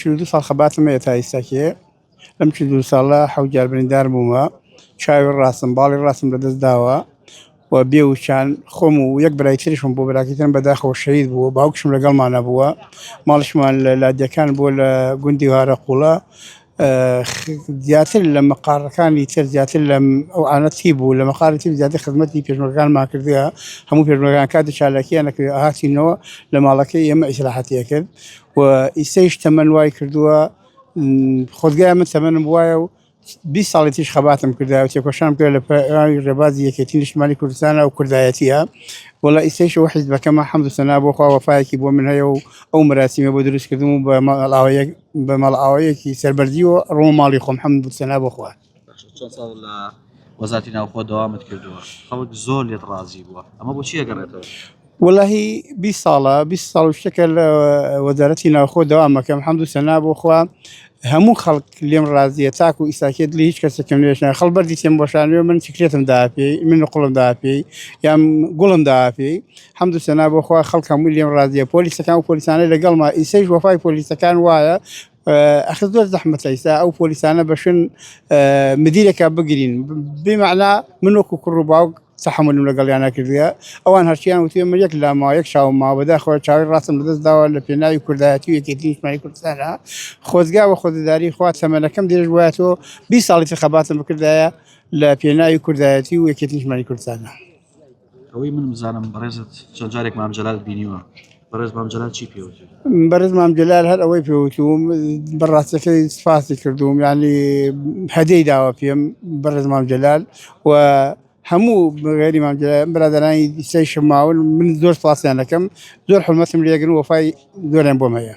چل و دوو ساڵ خەباتم هەیە تا ئیستا کێ لەم چل دوو ساڵە حەوت جار بریندار بوومە چاوی ڕاستم باڵی ڕاستم لەدەست داوە و بێ وچان خۆم و یەک برای تریشم بۆ براکەتن بەداخەوە شەهید بووە باوکشم لەگەڵمان نەبووە ماڵشمان لە لادیەکان بۆ لە گوندی هارە قوڵە زیاتر لە مەقارەکانی تر زیاتر لە ئەو ئاەتی بوو لە مەقاری تر زیاتر خزمەتی پێشمەکانمان کردە هەموو پێشمەکان کاتی چالاکییان نەکرێت هاتینەوە لە ماڵەکەی ئێمە ئیسراحەتیە کرد و ئیسەیش تەمەن وای کردووە خۆزگای من تەمەنم وایە و بی ساڵی تیش خەباتم کردا و تێکۆشان کرد لە پێراوی ڕێبازی یەکێتی نیشتمانی کوردستانە و کوردایەتیە وڵا ئیسەیشەوە حیز بەکەمە حەمد سەنا بۆ خوا وەفاایەکی بۆ من هەیە و ئەو مراسیمە بۆ دروستکردم و بە مەڵاوەیەک بە مەڵاوەیەکی سەربەرزی و ڕۆماڵی خۆم حەمد سەنا بۆ خوارد چەند ساڵ لە وەزاتی ناوخۆ دەوامت کردووە خەڵک زۆر لێت ڕازی بووە ئەمە بۆ چیە گەڕێتەوە وەلهی بی ساڵە بی ساڵ شتەکە لە وەزارەتی ناوخۆ دەوامەکەم حەمدو سەنا بۆ خوا هەموو خەڵک لێم ڕازیە تاکو و ئیساکێت لە هیچ کەسێکم نوێشە خەڵ بەردی تێم بۆشانوێ من چکرێتم داپی من قوڵم داپی یان گوڵم داپی حەمدو سەنا بۆخوا خەڵک هەموو لێم ڕازیە پۆلیسەکان و پۆلیسانە لەگەڵما ئیسەیش وەفای پۆلیسەکان وایە ئەخر زۆر زەحمەتە ئیستا ئەو پۆلیسانە بەشن مدیرێکا بگرین بمەعنا من وەکو کوڕ و باوک تحملم لەگەڵیان نەکردە ئەوان هەرچیان وتێ من یەک لا ما یەک چاو ما بەدا خۆ چاوی ڕاستم لەدەست داوە لە پێناوی کوردایەتی و یەکێتی نیشتمانی کوردستانە خۆزگا بە خۆدەداری خوا سەمەنەکەم درێژ وایە تۆ بی ساڵی خەباتم بکردایە لە پێناوی کوردایەتی و یەکێتی نیشتمانی کوردستانە. ئەوەی من بزانم بەڕێزت چەند جارێک مام جەلال بینیوە بەڕێز مام جەلال چی پێوت بەرز مام جلال هەر ئەوەی پێوتوم بەڕاستەکەی سپاسی کردوم ینی هەدەی داوە پێم بەڕێز مام جلال و هەموو بەغێری مام جلال برادرانی دیسەی شماون من زۆر سپاسیان دەکەم زۆر حرمەتم لێگرن وەفای زۆریان بۆم هەیە